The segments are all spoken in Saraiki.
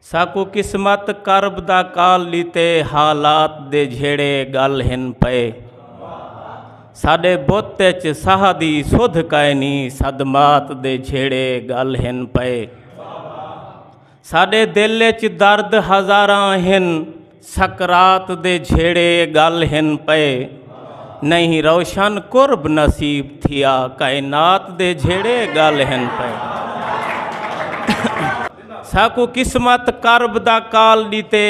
ساکوں قسمت کرب دا کال ݙتے حالات دے جھیڑے ڳل ہن پئے ساݙے بت اچ ساہ دی سدھ کائنی صدمات دے جھیڑے ڳل ہن پئے ساݙے دل اچ درد ہزاراں ہن سکرات دے جھیڑے گل ہن پئے نہیں روشن قرب نصیب تھیا کائنات دے جھیڑے گل ہن پئے ساکو قسمت کرب دا کال ڈیتے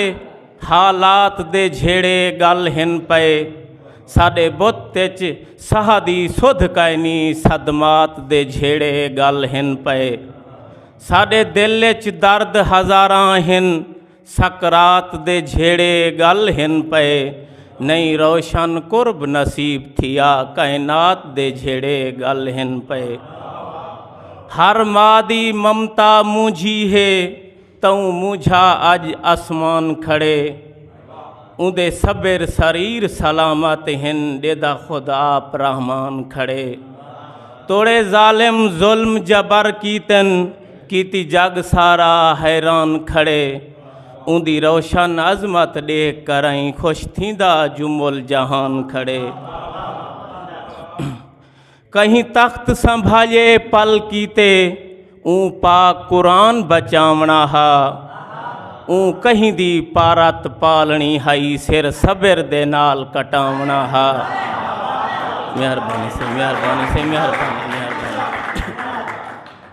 حالات دے جھیڑے گل ہن پئے ساڈے بت اچ ساہ دی سدھ کائنی صدمات دے جھیڑے گل ہن پئے ساڈے دل اچ درد ہزاراں ہن سکرات دے جھیڑے گل ہن پئے نئیں روشن قرب نصیب تھیا کائنات دے جھیڑے گل ہن پئے ہر ماں دی ممتا مونجھی ہے توں مونجھا اج اسمان کھڑے اوندے سبر سریر سلامت ہن ڈیدا خود آپ رحمان کھڑے توڑے ظالم ظلم جبر کیتن کیتی جگ سارا حیران کھڑے اوندی روشن عظمت ڈیکھ کر ائیں خوش تھیندا جو مل جہان کھڑے کہیں تخت سنبھالے پل کیتے اون پاک قرآن بچاونا ہا اون کہیں دی پارت پالنی ہائی سر صبر دے نال کٹاونا ہا مہربانی سے مہربانی سے مہربانی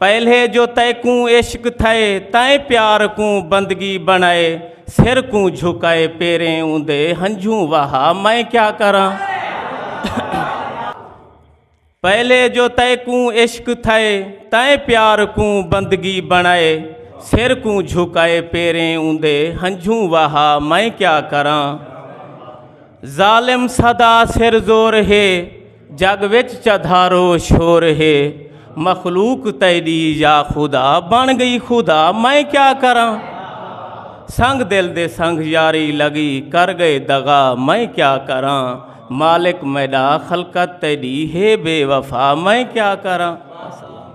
پہلے جو تئے کوں عشق تھئے تائیں پیار کوں بندگی بنائے سر کوں جھکائے پیریں اوندے ہنجھوں وہا میں کیا کراں پہلے جو تئے کوں عشق تھئے تائیں پیار کوں بندگی بنائے سر کوں جھکائے پیریں اوندے ہنجھوں وہا میں کیا کراں ظالم سدا سر زور ہے جگ وچ چدھارو شور ہے مخلوق تیڈی یا خدا بن گئی خدا میں کیا کراں سنگ دل دے سنگ یاری لگی کر گئے دغا میں کیا کراں مالک میڈا خلقت تیڈی ہے بے وفا میں کیا کراں